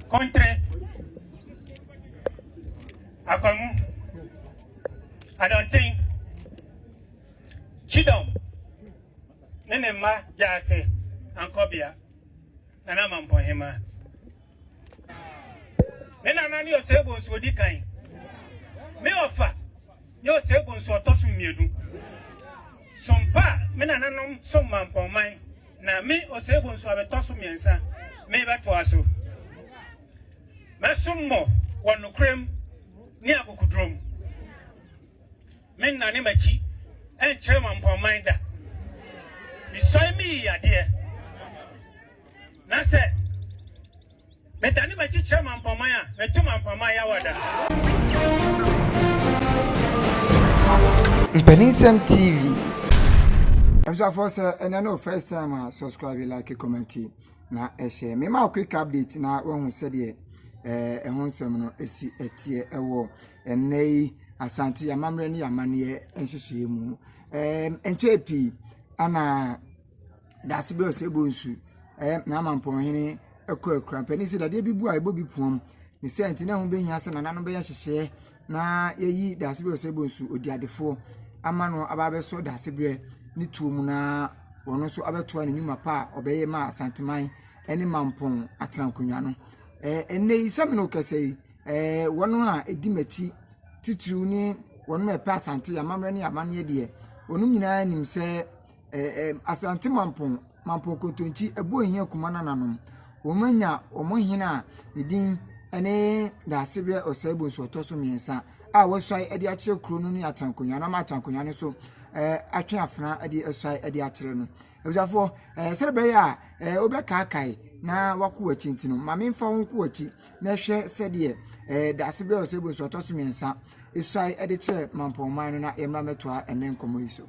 Kontre, Akwamu, Adɔnten, Kyidɔm ne ne mma Gyaase Ankɔbea, Nana Amampɔhema. Me nana ne Osei Bonsu Odikan, me ɔfa. ne Oseguo nso ɔtɔ so mmienu. Som pa a me nananom som maa Mpɔnman na me Oseguo nso abɛtɔ so mmiɛnsa merebɛtoa so. Mɛsom mo wɔ nokorɛm ne akokoduro mu. Mennane m'akyi nkyerɛ ma Mpɔnman da. Mesɔe meyi yadeɛ na sɛ. Medane m'akyi kyerɛ mampaman a, meto mampaman yawada. Mpaninsɛm TV. Abusuafoɔ sɛ ɛnɛ no first time a subscribe like comment na ɛhyɛ me ma quick update na wahu sɛdeɛ eh, ɛho nsɛm no ɛsi ɛteɛ ɛwɔ ɛnɛ yi asante amammerɛ ne amanneɛ nhyehyɛeɛ mu ɛnkyɛ pii ana Daase bi a ɔsɛ bɔ nsu. Ɛyɛ n'amampɔnhene akurakura. Mpanin se dadeɛ bi bu a ɛbɔ bi poom. Ne saa nti na ɛho bɛhia sɛ nananom bɛyɛ nhyehyɛeɛ na yɛyi daase bi a ɔsɛ bɔ nsu, odiadefoɔ ama no aba abɛsɔ daasebrɛ ne tuo mu na ɔno nso abɛtoa ne nnwuma pa a ɔbɛyɛ ma Asanteman ne Mampɔn atena nkonnwa no. Ɛɛ ɛnnɛ yi sɛ me ne wo kasa yi, ɛɛ wɔn a ɛdi m'akyi titiriw ne wɔn a ɛpɛ Asante amammerɛ ne amanneɛ deɛ, wɔn nyinaa nim sɛ Ɛɛ Asante Mampong, Mampong Kontonkyi, ɛbɔ hia kuma no ananom. Wɔanya wɔn hene a ne din ne Daasebrɛ Ɔsɛe Bonsu ɔtɔ so mmiɛnsa a wɔasuae de akyerɛ kuro no ne Atankonwa na Atankonwa no nso atwe afena de asuae de akyerɛ no. Abusuafoɔ, ɛɛ sɛ bɛyɛ a ɛɛ wobɛkaakae na wakɔ w'akyi nti no, ma memfa wo nkɔ w'akyi na hwɛ sɛdeɛ ɛɛ Daasebrɛ Ɔsɛe Bonsu ɔtɔ so mmiɛnsa asuae de kyerɛ Mampɔn man no na yɛmmra mɛtoa ɛnɛ nkɔmmɔ yi so.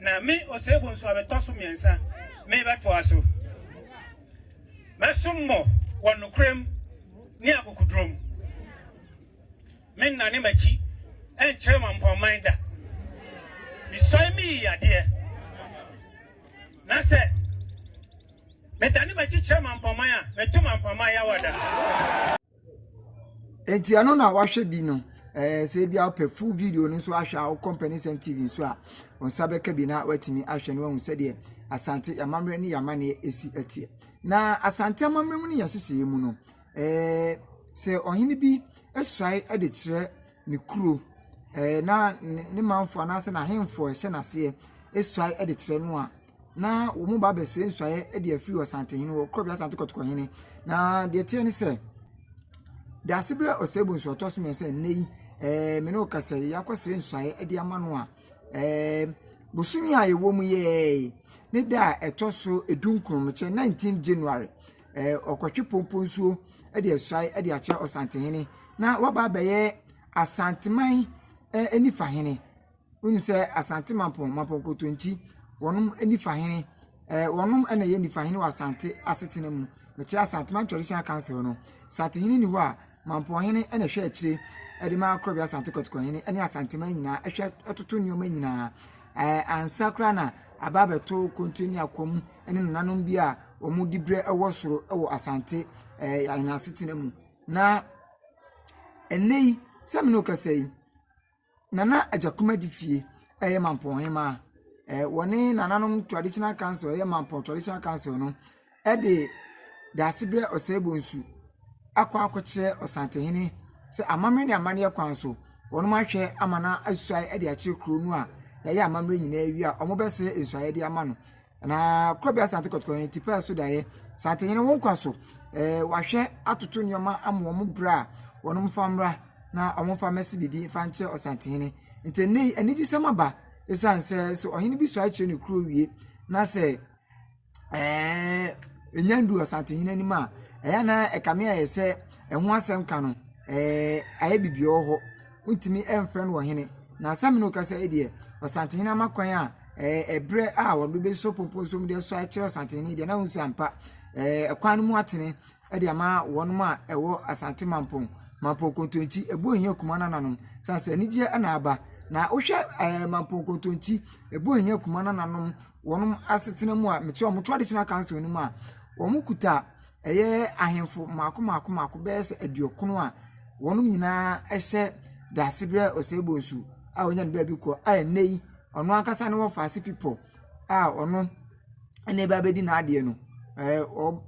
Na me, Osegun nso a metɔ so mmiɛnsa, merebɛtoa so. Mɛsom mo wɔ nokorɛm ne akokoduro mu. Merennane m'akyi nkyerɛ Mampɔnman da. Mesɔe meyi yadeɛ. Na sɛ medane m'akyi kyerɛ Mampɔnman a, meto Mampɔnman yawada. Nti ɛno na wahwɛ bi no ɛɛ sɛ ebi a wopɛ full video no nso ahwɛ a wokɔ mpanisɛm tv nso a wɔn nsa bɛka bi na watumi ahwɛ no ahu sɛdeɛ asante amammerɛ ne yamaneɛ esi ɛteɛ na asante amammerɛ mu ne yɛahyehyɛ mu no ɛɛ sɛ ɔhene bi esuae ɛde kyerɛ ne kuro ɛɛ na ne manfoɔ anaasɛ n'ahemfoɔ ɛhyɛ n'aseɛ esuae ɛde kyerɛ no a. na wɔn ba abɛsrɛ nsuaeɛ de afiri Ɔsantehene hɔ, Korɔbea Asante Kɔtɔkɔhene. Na deɛ teɛ ne sɛ, Daasebrɛ Ɔsɛebu nso ɔtɔ so mmiɛnsa nnɛ yi, ɛɛ me ne wo kasa yi, akɔsrɛ nsuaeɛ de ama no a, ɛɛ bosome a yɛwɔ mu yɛɛ ne da a ɛtɔ so edu nkonomekyɛ 19 January, ɛɛ ɔkɔtwe pompo nsuo de asuae de akyerɛ Ɔsantehene na waba abɛyɛ Asanteman ɛɛ nifahene. Wonim sɛ Asante Mampɔn, Mampɔn Kotonkyi, wɔnom ɛni fahene, ɛɛ wɔnom ɛna yɛ nifahene wɔ Asante asetena mu. Mekyerɛ Asanteman Traditional Council no. Asantehene ni hɔ a, Mampɔnhene ɛna ɛhwɛ akyire ɛde ma Korɔbi Asante Kɔtɔkɔhene ɛne Asanteman nyinaa ɛhwɛ ɛtoto nneɛma nyinaa. Ɛɛ ansa koraa na aba abɛto kontire ne akwam ɛne nananom bi a wɔn di berɛ ɛwɔ soro ɛwɔ Asante ɛɛ yɛn asetena mu. Na ɛnɛ yi sɛ mene wo kasa yi. Nana Adja Kumadi fie yɛ Mampɔn hemaa. Ɛɛ wɔne nananom traditional council a ɛyɛ Mampɔn traditional council no de Daasebrɛ Ɔsɛebonsu akɔ akɔkyerɛ Ɔsantehene sɛ amammerɛ ne amanneɛ kwan so wɔahwɛ ama no asuae de akyerɛ kuro no a yɛayɛ amammerɛ nyinaa awie a wɔbɛsrɛ nsuaeɛ de ama no. Na Korabea Asante Kɔtɔkɔ yɛn ti pɛɛ so da yɛ. Sante yɛn wɔn kwa so. Ɛɛ wahwɛ atoto nneɛma ama wɔn bra a wɔn mfa mmra na wɔn mfa mmɛsi biribi mfa nkyerɛ Ɔsantehene. Nti ɛnɛ yi anigyesɛm aba esiane sɛ sɛ ɔhene bi sɔre kyerɛ ne kuro wie na sɛ ɛɛ enya ndu Ɔsantehene anim a ɛyɛ na ɛkame ayɛ sɛ ɛho asɛm ka no ɛɛ ayɛ bibi wɔ hɔ. wontumi mfrɛ no ɔhene. Na asɛm no kasa yi deɛ, ɔsantehene ama kwan a ɛɛ ɛberɛ a wɔde bɛsɔ pompom so mu de asɔ akyerɛ ɔsantehene deɛ na wɔn sɛ ampa ɛɛ ɛkwan no mu atene ɛde ama wɔn a ɛwɔ asante mampɔn mampɔn kontonkyi ɛbɔ ohia kuma nananom san sɛ anigyeɛ ɛna aba na wohwɛ ɛɛ mampɔn kontonkyi ɛbɔ ohia kuma nananom wɔn asetena mu a mekyerɛ wɔn traditional council no mu a wɔn kuta. Ɛyɛ ahemfo mmaako mmaako mmaako bɛyɛ sɛ aduɔkron a wɔn nyinaa hyɛ Daasebrɛ Osei-Bonsu a ɔnya ne baabi kɔ a ɛnnɛ yi ɔno ankasa ne wɔfaase pipɔ a ɔno ɛna ɛba abɛdi n'adeɛ no. Ɛɛ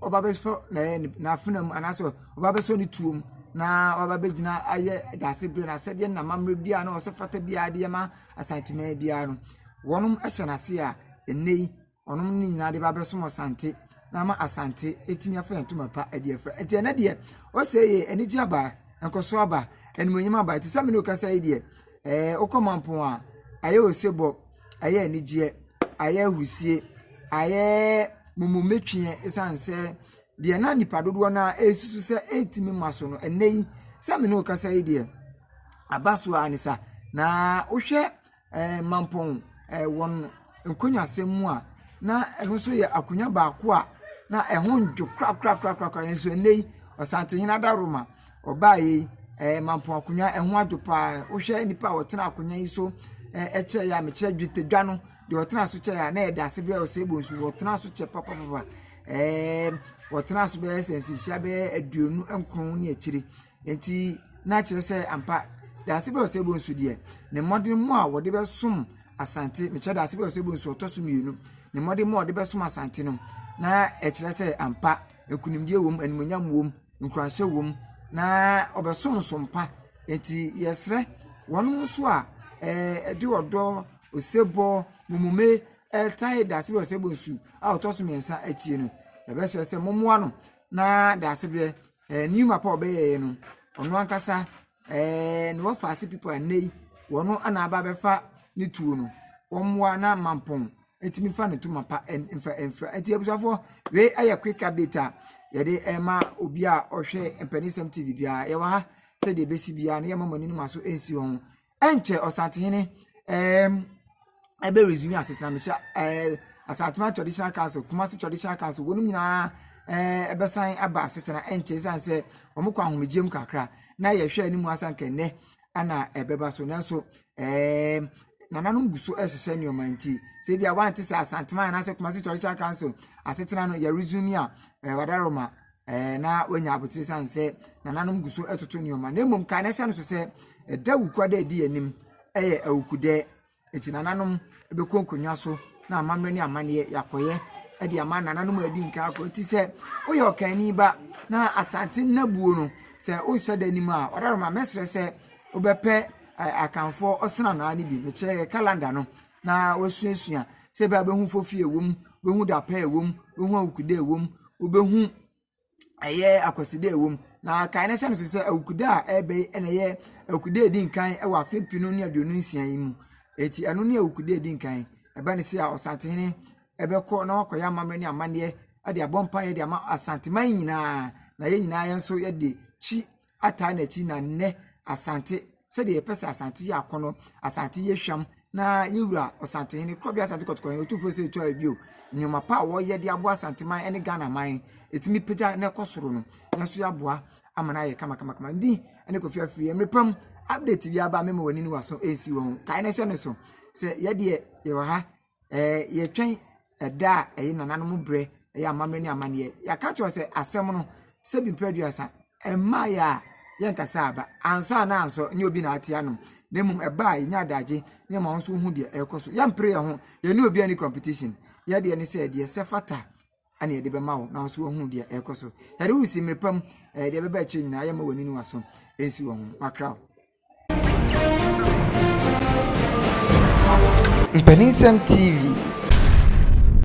ɔba abɛsɔ ɛɛ n'afena mu anaasɛ ɔba abɛsɔ ne tuo mu na waba abɛgyina ayɛ Daasebrɛ no asɛdeɛ na amammerɛ biara na ɔsɛ fata biara de ma Asanteman biara no. Wɔnom hyɛ n'ase a ɛnnɛ yi wɔn no nyinaa de ba abɛsom Asante na ama Asante atumi afa ntoma pa de afira. Nti ɛnɛ deɛ ɔsɛ yɛ anigye aba, nkɔso aba, animonyam aba. Ɛte sɛ mene ɔkasa yi deɛ, ɛɛ wokɔ mampɔn a, ayɛ osebɔ, ayɛ anigyeɛ, ayɛ ahurusie, ayɛ mumumetweɛ ɛsiane sɛ deɛ na nipa dodoɔ no ara ɛresusu sɛ ɛntumi ma so no, ɛnɛ yi sɛ mene ɔkasa yi deɛ, aba so ara ne sa. Na wohwɛ Mampɔn wɔn nkonnwasɛm mu a, na ɛno nso yɛ akonnwa baako a na ɛho nnwo korakorakorakora nanso ɛnnɛ yi, Ɔsantehene Adaworoma ɔbaeɛ yi, Mampɔn akonnwa no ho adwo pa ara. Wohwɛ nnipa a wɔtena akonnwa yi so kyɛeɛ a, mekyerɛ dwetɛdwa no, deɛ ɔtenaa so kyɛeɛ a, na ɛda ase bɛyɛ Osei Bonsu. Wɔtenaa so kyɛ papapapa. Wɔtenaa so bɛyɛ sɛ mfirihyia bɛyɛ aduonu nkron ne akyire. Enti na kyerɛ sɛ ampa Daasebe Osebonsu deɛ, ne mmɔdemmɔ a wɔde bɛsom Asante, mekyerɛ Daasebe Osebonsu ɔtɔ so mmienu, ne mmɔdemmɔ a ɔde bɛsom Asante no, na ɛkyerɛ sɛ ampa nkunimdie wom, animuonyam wom, nkuranhyɛ wom, na ɔbɛsom nso mpa. Enti yɛsrɛ wɔn nso a ɛde ɔdɔ, osebɔ, mummume ɛtae Daasebe Osebonsu a ɔtɔ so mmiɛnsa akyi no, yɛbɛsrɛ sɛ mommoa no na Daasebrɛ eh, new map a ɔbɛyɛɛ no ɔno ankasa eh, ne wɔfa ase people a nnɛ yi wɔn ana aba abɛfa ne tuo no wɔmmoa na mampɔn ɛtumi fa ne toma pa mfa mfira ɛti abusuafoɔ wei ayɛ quick update a yɛde ɛma obi a ɔhwɛ mpanisɛm tv biara yɛwɔ ha sɛdeɛ ɛbɛsi biara na yɛma mo ani no ma so ɛnsi wɔn ɛnkyɛ Ɔsantehene ɛɛm ɛbɛ resume asetena mekyerɛ ɛɛ Asantuma Traditional Council Kumasi Traditional Council wɔn nyinaa ɛɛ ɛbɛsan aba asetena ɛnkyɛ ɛsan sɛ wɔn kɔ ahomegyeɛ mu kakra na yɛhwɛ anim asan kɛnɛ ɛna ɛbɛba so nanso ɛɛm nananom gu so ɛrehyehyɛ nneɛma nti sɛ ebi a wante sɛ Asantuma anaasɛ Kumasi Traditional Council asetena no yɛ resume a ɛɛ wadaroma. ɛɛ, na wanya abotire sane sɛ nananom gu so toto nneɛma na mmom kae na hyɛ no so sɛ ɛda awukwa da a ɛdi anim yɛ awukudɛ eti nananom bɛkɔ nkonnwa so na amammerɛ ne amanneɛ yɛakɔyɛ de ama nananom a adi nka akɔ eti sɛ woyɛ ɔkanni ba na asante nnabuo no sɛ wohyɛ da anim a ɔdaroma mɛsrɛ sɛ wobɛpɛ akanfoɔ ɔsena naa no bi mekyerɛ yɛ kalanda no na woasuasua sɛ ebia wobehu foforo a ɛwɔ mu, wobehu da pa a ɛwɔ mu, wobehu awukuda a ɛwɔ mu, wobehu ɛyɛ akwaside a ɛwɔ mu. Na kae na hyɛ no nsow sɛ awukuda a ɛreba yi na ɛyɛ awukuda a edi nkan wɔ afe mpenu ne aduonu nsia yi mu. Enti ɛno ne awukuda a edi nkan. Ɛba no sɛ a Ɔsantehene bɛkɔ na wakɔyɛ amammerɛ ne amanneɛ de abɔ mpaeɛ de ama Asanteman nyinaa, na yɛn nyinaa yɛn nso yɛde twi. ataa n'akyi na nnɛ Asante sɛdeɛ yɛpɛ sɛ Asante yɛ akɔnɔ, Asante yɛ hwam na yɛwura Asantehene, Korɔbea Asante Kɔtɔkɔhene, Otumfoɔ Osei Tuah Bio, nneɛma pa a wɔyɛ de aboa Asanteman ne Ghana man, ɛtumi pagya na ɛkɔ soro no, yɛn nso yɛaboa ama no ayɛ kamakamakama. Ndi ne Kofi Afiri, mmerɛ pa mu, update bi aba a mɛma w'ani ne w'aso nsi wɔ ho, kae na hyɛ no so, sɛ yɛdeɛ yɛwɔ ha, yɛtwɛn ɛda a ɛyɛ nananom berɛ, ɛyɛ amammerɛ ne amanneɛ. Yɛaka kyerɛ sɛ asɛm no sɛ bi mpere aduasa, ɛmmaa yɛ a yɛnkasa aba. Ansɔ anaa ansɔ nyɛ obi na ate anom. Na mmom ɛba a yɛnya adagye ne ma nso wohu deɛ ɛrekɔ so. Yɛmpere yɛn ho, yɛne obi ani competition. Yɛdeɛ ne sɛ deɛ sɛ fata ɛna yɛde bɛma wo na nso wohu deɛ ɛrekɔ so. Yɛde wo si mmere pa mu, ɛɛ deɛ ɛbɛba akyire nyinaa yɛmma w'ani ne w'aso nsi wɔn ho. Makra wo. Mpaninsɛm TV.